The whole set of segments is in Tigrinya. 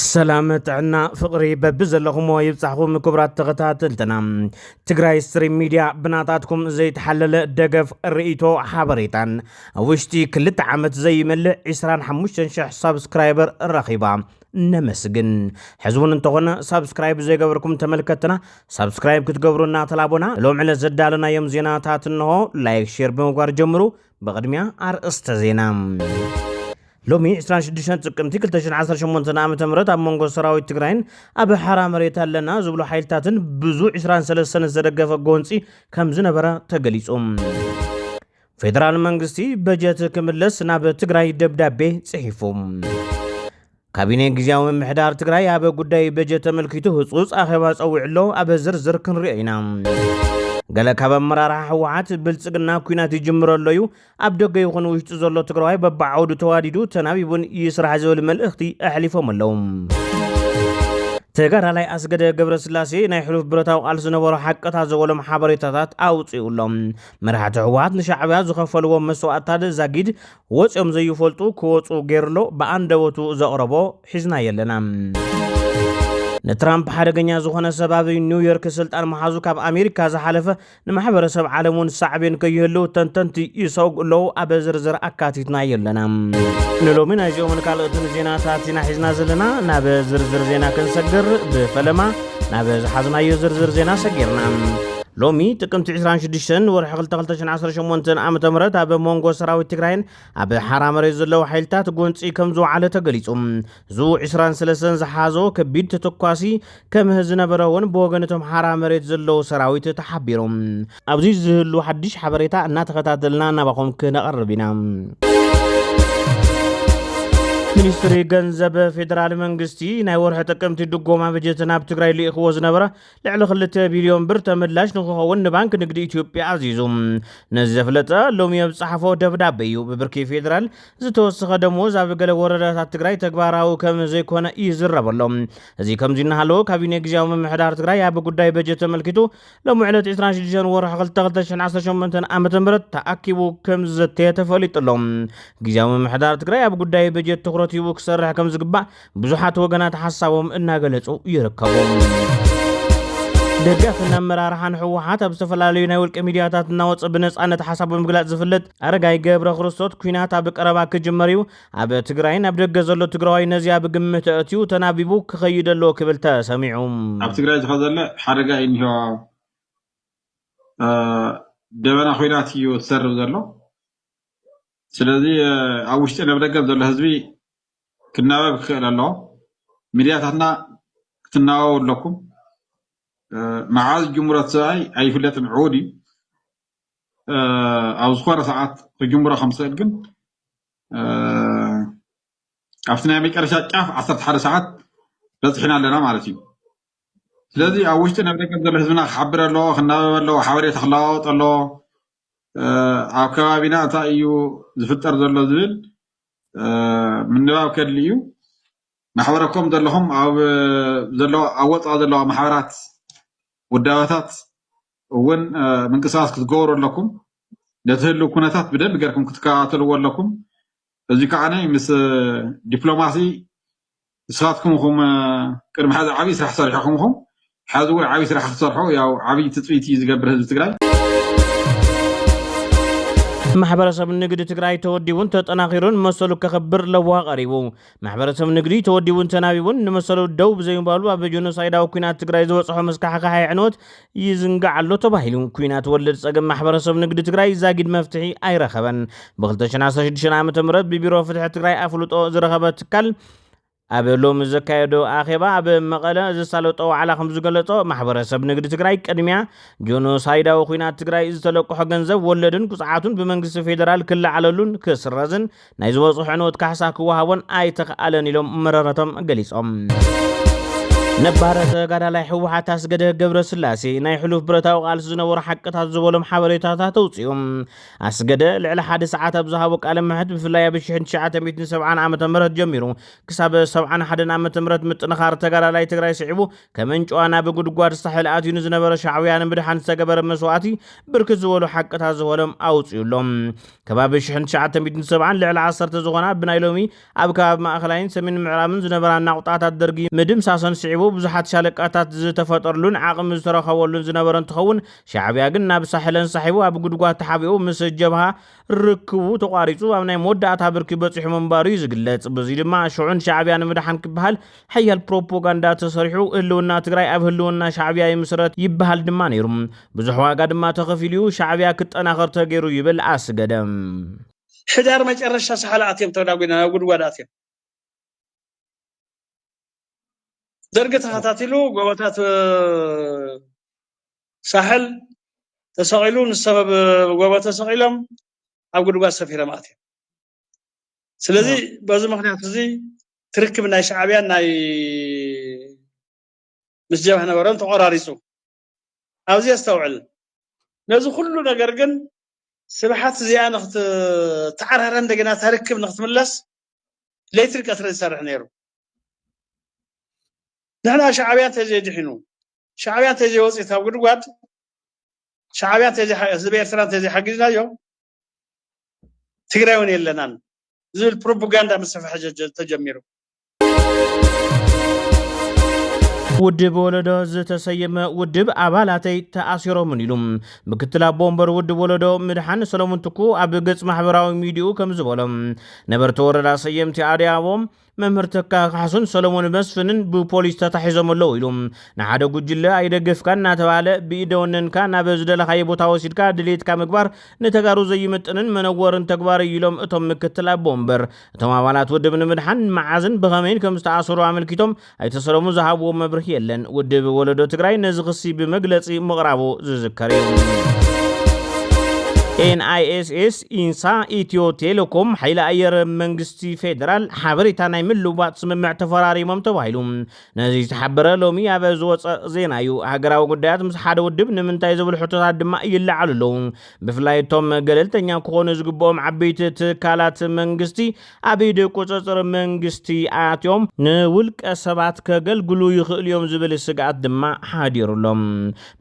ሰላም ጥዕና ፍቕሪ በቢ ዘለኹሞ ይብፃሕኹም ክቡራት ተኸታተልትና ትግራይ ስትሪም ሚድያ ብናታትኩም ዘይተሓለለ ደገፍ ርእይቶ ሓበሬታን ኣብ ውሽጢ ክልተ ዓመት ዘይመልእ 25000 ሳብስክራይበር ረኺባ ነመስግን ሕዚ እውን እንተኾነ ሳብስክራይብ ዘይገበርኩም ተመልከትና ሳብስክራይብ ክትገብሩ እናተላቦና ሎም ዕለት ዘዳለናዮም ዜናታት እንሆ ላይክ ሼር ብምግባር ጀምሩ ብቕድሚያ ኣርእስተ ዜና ሎሚ 26 ጥቅምቲ 2018 ዓ ም ኣብ መንጎ ሰራዊት ትግራይን ኣብ ሓራ መሬት ኣለና ዝብሉ ሓይልታትን ብዙ 23 ዝተደገፈ ጎንፂ ከም ዝነበረ ተገሊጹ ፌደራል መንግስቲ በጀት ክምለስ ናብ ትግራይ ደብዳቤ ጽሒፉ ካቢኔ ግዝያዊ ምምሕዳር ትግራይ ኣብ ጉዳይ በጀት ተመልኪቱ ህፁፅ ኣኼባ ፀዊዑ ኣሎ። ኣብ ዝርዝር ክንሪኦ ኢና። ገለ ካብ ኣመራርሓ ህወሓት ብልፅግና ኩናት ይጅምሮ ኣሎ እዩ፣ ኣብ ደገ ይኹን ውሽጢ ዘሎ ትግራዋይ በብዓውዱ ተዋዲዱ ተናቢቡን ይስራሕ ዝብል መልእኽቲ ኣሕሊፎም ኣለዉ። ተጋዳላይ ኣስገደ ገብረ ስላሴ ናይ ሕሉፍ ብረታዊ ቃል ዝነበሮ ሓቀታ ዘበሎም ሓበሬታታት ኣውፅኡ ኣሎ። መራሕቲ ህወሓት ንሻዕብያ ዝኸፈልዎ መስዋእትታት ዛጊድ ወጽዮም ዘይፈልጡ ክወጹ ጌሩሎ ብኣንደበቱ ዘቕረቦ ሒዝናዮ ኣለና። ንትራምፕ ሓደገኛ ዝኾነ ሰብ ኣብ ኒውዮርክ ስልጣን ምሓዙ ካብ ኣሜሪካ ዝሓለፈ ንማሕበረሰብ ዓለም እውን ሳዕቤን ከይህሉ ተንተንቲ ይሰጉ ኣለዉ። ኣብ ዝርዝር ኣካቲትናዮ ኣለና። ንሎሚ ናይዚኦምን ካልኦትን ዜናታት ኢና ሒዝና ዘለና። ናብ ዝርዝር ዜና ክንሰግር ብፈለማ ናብ ዝሓዝናዮ ዝርዝር ዜና ሰጊርና ሎሚ ጥቅምቲ 26 ንወርሒ 22018 ዓ ም ኣብ መንጎ ሰራዊት ትግራይን ኣብ ሓራ መሬት ዘለዉ ሓይልታት ጎንፂ ከም ዝወዓለ ተገሊፁ እዙ 23 ዝሓዞ ከቢድ ተተኳሲ ከም ዝነበረ እውን ብወገን እቶም ሓራ መሬት ዘለዉ ሰራዊት ተሓቢሩ ኣብዚ ዝህሉ ሓድሽ ሓበሬታ እናተኸታተልና ናባኹም ክነቐርብ ኢና ሚኒስትሪ ገንዘብ ፌደራል መንግስቲ ናይ ወርሒ ጥቅምቲ ድጎማ በጀት ናብ ትግራይ ልኢኽዎ ዝነበረ ልዕሊ 2 ቢልዮን ብር ተመላሽ ንክኸውን ንባንክ ንግዲ ኢትዮጵያ ኣዚዙ ነዚ ዘፍለጠ ሎሚ ኣብ ጸሓፎ ደብዳበ እዩ ብብርኪ ፌደራል ዝተወሰኸ ደሞዝ ኣብ ገለ ወረዳታት ትግራይ ተግባራዊ ከም ዘይኮነ ይዝረበሎም እዚ ከምዚ እናሃለዎ ካቢኔ ግዜያዊ ምምሕዳር ትግራይ ኣብ ጉዳይ በጀት ተመልኪቱ ሎሚ ዕለት ዕስራን ሽዱሽተን ወርሒ ክልተ ክልተ ሽሕን ዓሰርተ ሸሞንተን ዓመተ ምህረት ተኣኪቡ ከም ዝዘተየ ተፈሊጡ ኣሎ። ግዜያዊ ምምሕዳር ትግራይ ኣብ ጉዳይ በጀት ትኹረት ሂቡ ክሰርሕ ከም ዝግባእ ብዙሓት ወገናት ሓሳቦም እናገለጹ ይርከቡ። ደጋፍን ኣመራርሓን ህወሓት ኣብ ዝተፈላለዩ ናይ ውልቂ ሚድያታት እናወፀ ብነፃነት ሓሳብ ብምግላፅ ዝፍለጥ ኣረጋይ ገብረ ክርስቶት ኩናት ኣብ ቀረባ ክጅመር እዩ ኣብ ትግራይን ኣብ ደገ ዘሎ ትግራዋይ ነዚኣ ብግምት ኣእትዩ ተናቢቡ ክኸይድ ኣለዎ ክብል ተሰሚዑ። ኣብ ትግራይ ዝኸዘለ ሓደጋ እዩ እኒሆ። ደበና ኹናት እዩ ትሰርብ ዘሎ። ስለዚ ኣብ ውሽጢን ኣብ ደገን ዘሎ ህዝቢ ክናበብ ክኽእል ኣለዎ። ሚድያታትና ክትናበቡ ኣለኩም። መዓዝ ጅምሮት ሰብኣይ ኣይፍለጥን ዕዉድ እዩ። ኣብ ዝኾነ ሰዓት ክጅምሮ ከም ዝኽእል ግን ኣብቲ ናይ መጨረሻ ጫፍ ዓሰርተ ሓደ ሰዓት በፂሕና ኣለና ማለት እዩ ስለዚ ኣብ ውሽጢ ናብ ደገ ዘሎ ህዝብና ክሓብር ኣለዎ ክናበብ ኣለዎ ሓበሬታ ክለዋወጥ ኣለዎ ኣብ ከባቢና እንታይ እዩ ዝፍጠር ዘሎ ዝብል ምንባብ ከድሊ እዩ ማሕበረኮም ዘለኹም ኣብ ዘለዋ ኣብ ወፃኢ ዘለዋ ማሕበራት ውዳበታት እውን ምንቅስቃስ ክትገብሩ ኣለኩም ነቲ ህልው ኩነታት ብደንቢ ገርኩም ክትከታተልዎ ኣለኩም እዚ ከዓ ምስ ዲፕሎማሲ ንስኻትኩም ኹም ቅድሚ ሕዚ ዓብዪ ስራሕ ሰሪሕኹም ኹም ሕዚ እውን ዓብዪ ስራሕ ክትሰርሑ ያው ዓብዪ ትፅቢት እዩ ዝገብር ህዝቢ ትግራይ ማሕበረሰብ ንግዲ ትግራይ ተወዲቡን ተጠናኺሩን መሰሉ ከኽብር ለዋህ ቀሪቡ ማሕበረሰብ ንግዲ ተወዲቡን ተናቢቡን ንመሰሉ ደው ብዘይምባሉ ኣብ ጆኖሳይዳዊ ኲናት ትግራይ ዝበፅሖ መስካሕካሕ ኣዕንወት ይዝንጋዕ ኣሎ ተባሂሉ ኲናት ወለድ ፀገም ማሕበረሰብ ንግዲ ትግራይ ዛጊድ መፍትሒ ኣይረኸበን። ብ2016 ዓ.ም ብቢሮ ፍትሒ ትግራይ ኣፍልጦ ዝረኸበ ትካል ኣብ ሎሚ ዘካየዶ ኣኼባ ኣብ መቐለ ዘሳለጦ ዋዕላ ከምዝገለፆ ማሕበረሰብ ንግዲ ትግራይ ቅድሚያ ጆኖሳይዳዊ ኲናት ትግራይ ዝተለቅሖ ገንዘብ ወለድን ቁፅዓቱን ብመንግስቲ ፌዴራል ክለዓለሉን ክስረዝን ናይ ዝበፅሑ ዕንወት ካሕሳ ክወሃቦን ኣይተኽኣለን ኢሎም መረረቶም ገሊፆም። ነባረ ተጋዳላይ ሕወሓት ኣስገደ ገብረ ስላሴ ናይ ሕሉፍ ብረታዊ ቃልሲ ዝነበሩ ሓቅታት ዝበሎም ሓበሬታታት ተውፅኡ ኣስገደ ልዕሊ ሓደ ሰዓት ኣብ ዝሃቦ ቃለ ምሕት ብፍላይ ኣብ 1970 ዓ ም ጀሚሩ ክሳብ 71 ዓ ም ምጥንኻር ተጋዳላይ ትግራይ ስዒቡ ከመንጨዋ ናብ ጉድጓድ ሳሕል ኣትዩ ንዝነበረ ሻዕውያ ንምድሓን ዝተገበረ መስዋእቲ ብርክት ዝበሉ ሓቅታት ዝበሎም ኣውፅዩሎም ከባቢ ሽሕን ትሽዓተ ሚእትን ሰብዓን ልዕሊ ዓሰርተ ዝኾና ብናይ ሎሚ ኣብ ከባቢ ማእኸላይን ሰሜን ምዕራብን ዝነበራ ናቑጣታት ደርጊ ምድምሳሰን ስዒቡ ብዙሓት ሻለቃታት ዝተፈጠርሉን ዓቕሚ ዝተረኸበሉን ዝነበረ እንትኸውን ሻዕቢያ ግን ናብ ሳሕል ኣንሳሒቡ ኣብ ጉድጓድ ተሓቢኡ ምስ ጀብሃ ርክቡ ተቋሪፁ ኣብ ናይ መወዳእታ ብርኪ በፂሑ ምንባሩ እዩ ዝግለፅ። በዙይ ድማ ሽዑን ሻዕቢያ ንምድሓን ክበሃል ሐያል ፕሮፖጋንዳ ተሰሪሑ ህልውና ትግራይ ኣብ ህልውና ሻዕብያ ይምስረት ይበሃል ድማ ነይሩ። ብዙሕ ዋጋ ድማ ተኸፊሉ ዩ። ሻዕብያ ክጠናኸር ተገይሩ ይብል ኣስገደም። ሕዳር መጨረሻ ሳሕል ኣትዮም ተዳጒና ናብ ጉድጓድ ኣትዮም። ደርጊ ተኸታቲሉ ጎቦታት ሳሕል ተሰቒሉ ንሰብ ጎቦ ተሰቒሎም ኣብ ጉድጓድ ሰፊሮም ኣትዮም። ስለዚ በዚ ምክንያት እዚ ትርክብ ናይ ሻዕብያ ናይ ምስ ጀብሃ ነበረን ተቆራሪጹ ኣብዚ ኣስተውዕል ነዚ ኩሉ ነገር ግን ስብሓት እዚኣ ንክትተዓራረ እንደገና ተርክብ ንክትምለስ ለይትን ቀትሪ ዝሰርሕ ነይሩ ንሕና ሻዕብያ እንተዘይድሒኑ ሻዕብያ እንተዘይወፂት ኣብ ጉድጓድ ሻዕብያ ህዝቢ ኤርትራ እንተዘይሓጊዝናዮ ትግራይ እውን የለናን ዝብል ፕሮፓጋንዳ ምስፍሕፋሕ ተጀሚሩ። ውድብ ወለዶ ዝተሰየመ ውድብ ኣባላተይ ተኣሲሮምን ኢሉ ምክትል ኣቦ ወንበር ውድብ ወለዶ ምድሓን ሰለሙን ትኩ ኣብ ገጽ ማሕበራዊ ሚዲኡ ከም ዝበሎ ነበርቲ ወረዳ ሰየምቲ ኣድያቦ መምህር ተካ ካሕሱን ሰሎሞን መስፍንን ብፖሊስ ተታሒዞም ኣለዉ ኢሉ ንሓደ ጉጅለ ኣይደገፍካን እናተባህለ ብኢደ ወነንካ ናብ ዝደለኻዮ ቦታ ወሲድካ ድሌትካ ምግባር ንተጋሩ ዘይምጥንን መነወርን ተግባር እዩ ኢሎም እቶም ምክትል ኣቦ ወንበር። እቶም ኣባላት ውድብ ንምድሓን መዓዝን ብኸመይን ከምዝተኣሰሩ ኣመልኪቶም ኣይተ ሰሎሙን ዝሃብዎ መብርሂ የለን። ውድብ ወለዶ ትግራይ ነዚ ክሲ ብመግለፂ ምቕራቡ ዝዝከር እዩ። NISS ኢንሳ ኢትዮ ቴሌኮም ሓይሊ ኣየር መንግስቲ ፌደራል ሓበሬታ ናይ ምልውዋጥ ስምምዕ ተፈራሪሞም ተባሂሉ ነዚ ዝተሓበረ ሎሚ ኣብ ዝወፀ ዜና እዩ። ሃገራዊ ጉዳያት ምስ ሓደ ውድብ ንምንታይ ዝብሉ ሕቶታት ድማ ይለዓሉ ኣለዉ። ብፍላይ እቶም ገለልተኛ ክኾኑ ዝግብኦም ዓበይቲ ትካላት መንግስቲ ኣብ ኢድ ቁጽጽር መንግስቲ ኣትዮም ንውልቀ ሰባት ከገልግሉ ይኽእሉ'ዮም ዝብል ስግኣት ድማ ሓዲሩ'ሎ።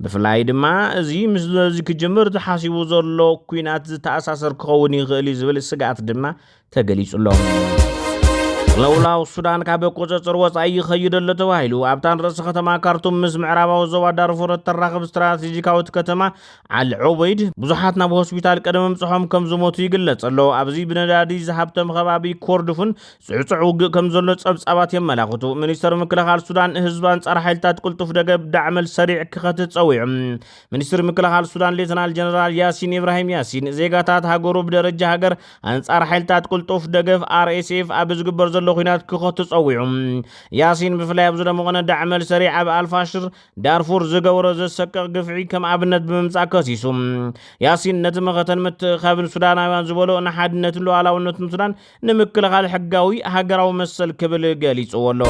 ብፍላይ ድማ እዚ ምስ ነዚ ክጅምር ተሓሲቡ ዘሎ ኲናት ዝተኣሳሰር ክኸውን ይኽእል'ዩ ዝብል ስግኣት ድማ ተገሊጹ'ሎ። ቅልውላው ሱዳን ካብ ቁፅፅር ወፃኢ ይኸይድ ኣሎ ተባሂሉ ኣብታ ንርእሰ ከተማ ካርቱም ምስ ምዕራባዊ ዞባ ዳርፉር እተራኽብ ስትራቴጂካዊት ከተማ ዓሊ ዑበይድ፣ ብዙሓት ናብ ሆስፒታል ቅድሚ ምብጽሖም ከም ዝሞቱ ይግለጽ ኣሎ። ኣብዚ ብነዳዲ ዝሃብተመ ከባቢ ኮርዱፉን ጽዕጹዕ ውግእ ከም ዘሎ ጸብጻባት የመላኽቱ። ሚኒስተር ምክልኻል ሱዳን፣ ህዝቢ ኣንጻር ሓይልታት ቅልጡፍ ደገብ፣ ዳዕመል ሰሪዕ፣ ክኸትት ጸዊዑ። ሚኒስትሪ ምክልኻል ሱዳን ሌተናል ጀነራል ያሲን ኢብራሂም ያሲን፣ ዜጋታት ሃገሩ ብደረጃ ሃገር ኣንጻር ሓይልታት ቅልጡፍ ደገፍ፣ RSF፣ ኣብ ዝግበር ዘሎ ኲናት ክኸቱ ጸዊዑ። ያሲን፣ ብፍላይ ኣብ ዝደመቖነ ዳዕመል ሰሪዕ ኣብ ኣልፋሽር፣ ዳርፉር ዝገበሮ ዘሰቅቕ ግፍዒ ከም ኣብነት ብምምጻእ ከሲሱ። ያሲን ነቲ መኸተን ምትእኻብን ሱዳናውያን ዝበሎ ንሓድነትን ሉዓላውነትን ሱዳን ንምክልኻል ሕጋዊ ሃገራዊ መሰል ክብል ገሊጽዎ ኣሎ።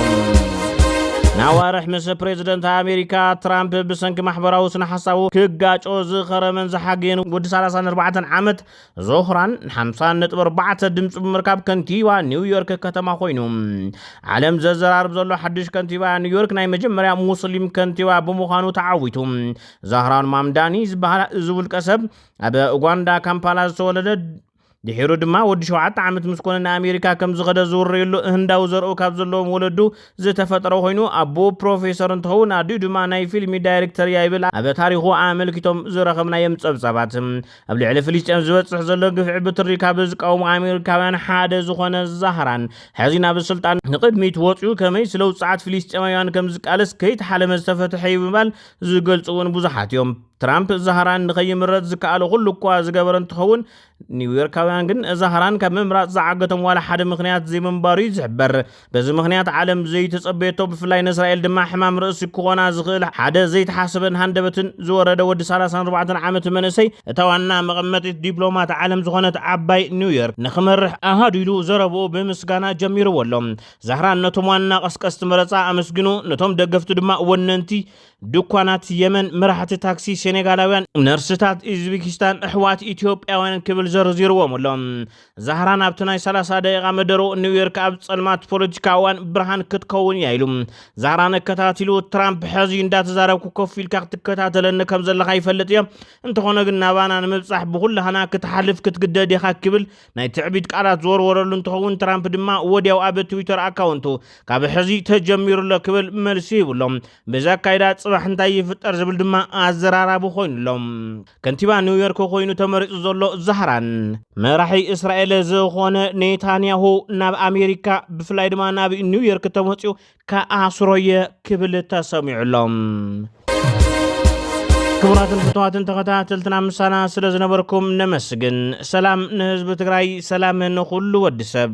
ናዋርሕ ምስ ፕሬዝደንት ኣሜሪካ ትራምፕ ብሰንኪ ማሕበራዊ ስነ ሓሳቡ ክጋጮ ዝኸረመን ዝሓገየን ወዲ 34 ዓመት ዞህራን ሓምሳ ነጥቢ ኣርባዕተ ድምፂ ብምርካብ ከንቲባ ኒውዮርክ ከተማ ኮይኑ ዓለም ዘዘራርብ ዘሎ ሓድሽ ከንቲባ ኒውዮርክ ናይ መጀመርያ ሙስሊም ከንቲባ ብምዃኑ ተዓዊቱ ዛህራን ማምዳኒ ዝበሃል እዚ ውልቀ ሰብ ኣብ ኡጋንዳ ካምፓላ ዝተወለደ ድሒሩ ድማ ወዲ ሸውዓተ ዓመት ምስ ኮነ ንኣሜሪካ ከም ዝኸደ ዝውረየሉ ህንዳዊ ዘርኡ ካብ ዘለዎም ወለዱ ዝተፈጠረ ኮይኑ ኣቦ ፕሮፌሰር እንትኸውን ኣዲኡ ድማ ናይ ፊልሚ ዳይሬክተር እያ ይብል ኣብ ታሪኹ ኣመልኪቶም ዝረኸብናዮም ጸብጻባት ኣብ ልዕሊ ፍልስጤም ዝበፅሕ ዘሎ ግፍዒ ብትሪ ካብ ዝቃወሙ ኣሜሪካውያን ሓደ ዝኾነ ዛህራን ሕዚ ናብ ስልጣን ንቕድሚት ወፅኡ ከመይ ስለ ውፅዓት ፍልስጤማውያን ከም ዝቃለስ ከይተሓለመ ዝተፈትሐ እዩ ብምባል ዝገልፁ እውን ብዙሓት እዮም። ትራምፕ ዛህራን ንኸይምረፅ ዝከኣሎ ኩሉ እኳ ዝገበረ እንትኸውን ኒውዮርካውያን ግን ዛህራን ካብ ምምራፅ ዝዓገቶም ዋላ ሓደ ምኽንያት ዘይምንባሩ እዩ ዝሕበር። በዚ ምኽንያት ዓለም ዘይተጸበየቶ ብፍላይ ንእስራኤል ድማ ሕማም ርእሲ ክኾና ዝኽእል ሓደ ዘይተሓሰበን ሃንደበትን ዝወረደ ወዲ ሰላሳን ኣርባዕተን ዓመት መንእሰይ እታ ዋና መቐመጢት ዲፕሎማት ዓለም ዝኾነት ዓባይ ኒውዮርክ ንኽመርሕ ኣሃዱ ኢሉ ዘረብኡ ብምስጋና ጀሚርዎ ኣሎ። ዛህራን ነቶም ዋና ቀስቀስቲ መረጻ ኣመስግኑ፣ ነቶም ደገፍቱ ድማ ወነንቲ ድኳናት የመን፣ መራሕቲ ታክሲ ሴኔጋላውያን፣ ነርስታት ኢዝቢኪስታን፣ ኣሕዋት ኢትዮጵያውያን ክብል ዘርዚርዎም ኣሎ። ዛህራን ኣብቲ ናይ 30 ደቂቓ መደረኡ ኒውዮርክ ኣብ ጸልማት ፖለቲካ እዋን ብርሃን ክትከውን እያ ኢሉ። ዛህራን ኣከታቲሉ ትራምፕ ሕዚ እንዳተዛረብኩ ኮፍ ኢልካ ክትከታተለኒ ከም ዘለኻ ይፈልጥ እየ፣ እንተኾነ ግን ናባና ንምብጻሕ ብኹላህና ክትሓልፍ ክትግደድ ኢኻ ክብል ናይ ትዕቢት ቃላት ዝወርወረሉ እንትኸውን ትራምፕ ድማ ወዲያው ኣብ ትዊተር ኣካውንቱ ካብ ሕዚ ተጀሚሩሎ ክብል መልሲ ሂቡሎም። በዚ ኣካይዳ ጽባሕ እንታይ ይፍጠር ዝብል ድማ ኣዘራራቢ ኮይኑ ኣሎ። ከንቲባ ኒውዮርክ ኮይኑ ተመሪጹ ዘሎ ዛህራን መራሒ እስራኤል ዝኾነ ኔታንያሁ ናብ ኣሜሪካ ብፍላይ ድማ ናብ ኒውዮርክ ተመፅኡ ከኣስሮየ ክብል ተሰሚዑ ኣሎ። ክቡራትን ፍትዋትን ተኸታተልትና ምሳና ስለ ዝነበርኩም ነመስግን። ሰላም ንህዝቢ ትግራይ፣ ሰላም ንኹሉ ወዲ ሰብ።